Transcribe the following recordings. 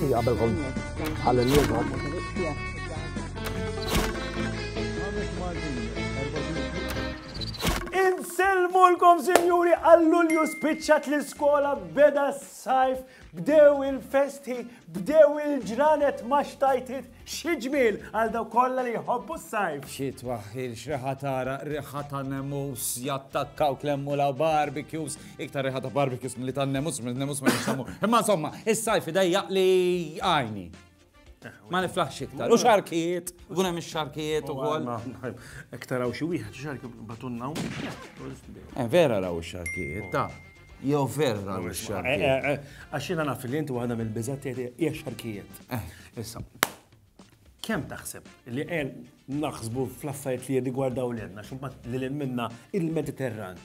Għabelkom għal-liegħu. Insellmulkom sinjuri għall-Lulju spiċċat l-iskola beda s-sajf Bdew il-festi, bdew il-ġranet ma xtajtit xi ġmiel għal daw kollha li jħobbu s-sajf. Xi twaħħil xreħa tara riħa ta' nemus jattakkaw klemmu la barbecues, iktar riħa ta' barbecues milli ta' nemus, minn nemus ma jinsamu. Imma insomma, is-sajf idejjaq li għajni. Ma niflaħx iktar. U xarkijiet, guna mi xarkijiet u għol. Iktar għaw xie wieħed, xarki batunna u. Eh, vera raw xarkijiet, ta' jew vera raw eh, xarkijiet. Eh, Għaxina naf li inti għadha mill-bizat hija xarkijiet. Issa, kem taħseb li għen naħsbu fl-affarijiet li jirrigwardaw l-għenna, xumbat li l-minna il-Mediterran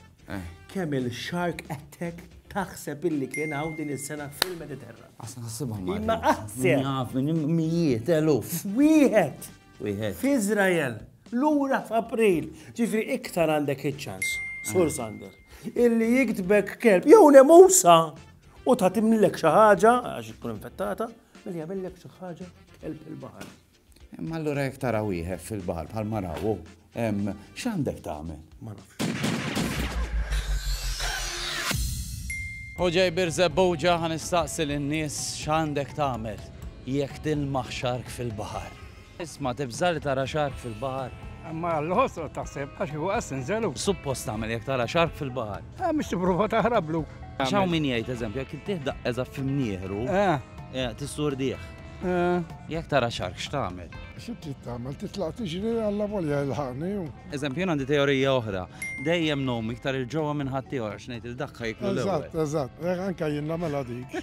Kemm il-shark attack taħseb illi kien hawn din is-sena fil-Mediterran? Għasna ħassibha ma. Imma qaħseb. Naf minn mijiet, eluf. Wieħed. Wieħed. F'Iżrael, lura f'April, ġifri iktar għandek iċ-ċans, Sur Sander, illi jiktbek kelb, jew nemusa, u ta' timlek xi ħaġa, għax tkun infettata, milli jagħmellek xi ħaġa kelb il-baħar. Imma allura jekk tara wieħed fil-baħar bħal marawu, x'għandek tagħmel? Ma nafx. U ġej birżebbuġa ħan istaqsi lin-nies x'għandek tagħmel jekk tilmaħ xark fil-baħar. Isma' tibża li tara xark fil-baħar. Ma l-ħosru taħseb għax huwa sinżelu. Suppost tagħmel jekk tara xark fil-baħar. Ah, mhux tipprova taħrablu. X'hawn min jgħid eżempju jekk tieħda eża f'imnieħru, eh. eh, tissurdih. Jek tara xark x'tagħmel? Xi trid tagħmel? Titlaq tiġri alla volja jilħaqni. Eżempju, għandi teorija oħra. Dejjem nom iktar il-ġewwa minn ħaddieħor għax ngħid il-dakka jiklu l Eżatt, eżatt. Eh, anka jien nagħmilha dik.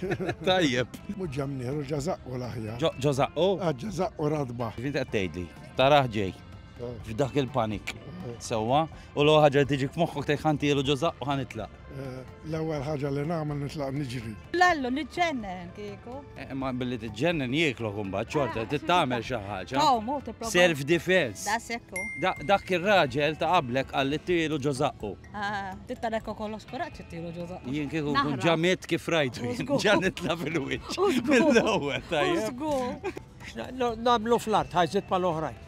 Tajjeb. Mhux ġemnieru ġazaqqu l-aħjar. Ġożaqqu? Ah, ġazaqqu radba. Kif inti qed tgħidli? Taraħ ġej. Eh. F'dak il-panik. Eh. Sewwa, u l ħaġa tiġi f'moħħok tgħid ħantielu ġożaqqu ħanitlaq. L-ewwel ħaġa li nagħmel nitlaq niġri. Lallu niġġennen kieku. Eh, ma billi tiġġennen jieklok imbagħad xorta ah, tittamel xi ħaġa. Self defense. Da sekku. Dak ir-raġel ta' qablek għal tielu ġożaqqu. Ah, titta lekku kollox kuraġġ tielu ġożaqqu. Jien kieku kun ġamiet kif rajtu ġan nitla' fil-wiċċ. Mill-ewwel tajjeb. Namlu fl-art ħajżit pal-oħrajn.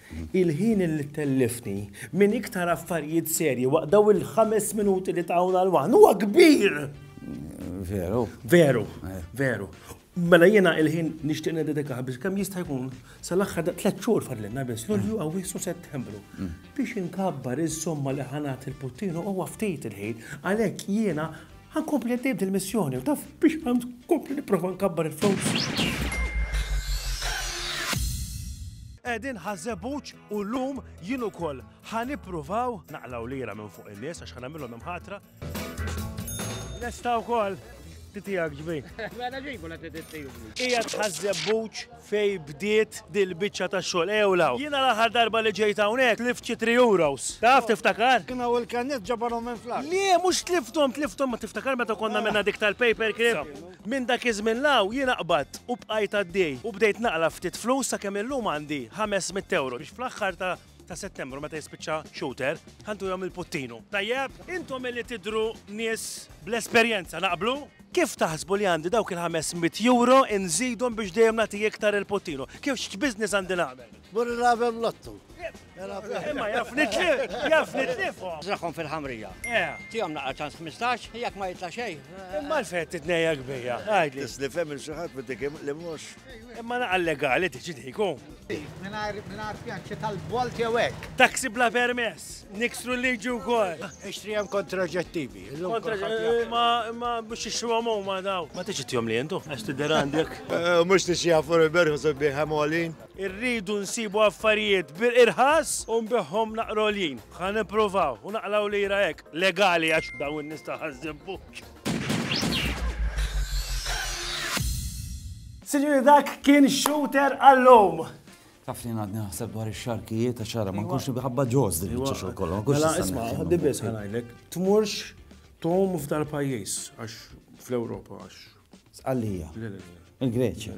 Il-ħin li ttelliftni minn iktar affarijiet serji waqt dawn il-ħames minuti li tawna l-waħn huwa kbir! Veru. Veru, eh. veru. Mela jiena il-ħin nixtieq nededikaħ biex kemm jista' jkun sal-aħħar da tliet xhur fadlilna biss Lulju mm. Awwissu Settembru mm. biex inkabbar is-somma li ħanat il-puttinu huwa ftit il-ħin għalhekk jiena Ħa nkompli għaddej b'dil-missjoni u taf biex ħa nkompli nipprova nkabbar il-flus. Qegħdin ħa żebbuġ u llum jien ukoll ħa nippruvaw naqlaw lira minn fuq in-nies għax ħa nagħmilhom hemm ħatra. Lesta wkoll titijak ġbi. Mela ġibu la titijak. Qiegħed ħa żebbuġ Fejn bdiet din il-biċċa ta' xogħol? Ejjew 'l hawn. Jiena l-aħħar darba li ġejt hawnhekk tlift xi three euros. Taf tiftakar? Kien hawn il-kanniet ġabarhom minn fl-art. Le, mhux tlifthom, tlifthom ma tiftakar meta konna għamilna dik tal-paper clip? Minn dak iż-żmien 'l hawn jiena qbadt u bqajt għaddej u bdejt naqla' ftit flus sakemm illum għandi ħames mitt ewro biex fl-aħħar ta' ta' Settembru meta jispiċċa shooter, ħantu jom il-puttinu. Tajjeb, intom illi tidru nies bl-esperjenza naqblu? Kif taħsbu li għandi dawk il-500 euro nżidhom biex dejjem nagħti iktar il-puttinu? Kif x'business għandi nagħmel? Mur nagħmel lottu. Imma jaf nitlif, jaf nitlif. Żraħħom fil-ħamrija. Eh. Tihom naqra ċans 15, jekk ma jitla' xejn. Imma l-fett titnejja kbija. Għidli. Tis li fem il-xi ħadd li mhux. Imma naqa legali tiġi diku. Minar fjanċi tal-bolt jew hekk. Taxi bla permess, niksru liġi wkoll. Ah, ixtri hemm kontraġettivi. Ma biex ixtru għamu ma daw. Ma tiġi tjom li jentu, għax tidher għandek. Eh, mhux tixi għafur il-berħu sabbi ħamolin. Irridu nsibu affarijiet bir irħas u nbiħhom naqrolin. Ħan nipprovaw u naqlaw lira hekk legali għax dawn nista' ħażżibbu. Sinjuri dak kien shooter għallum. Taf li għadni naħseb dwar ix-xarkijiet ta' xara, ma nkunx nibħabba ġoż din iċ xogħol kollu. Mela isma' ħaddi biss ħanajlek, tmurx tom f'dar pajjiż għax fl-Ewropa għax. Sqallija. Il-Greċja.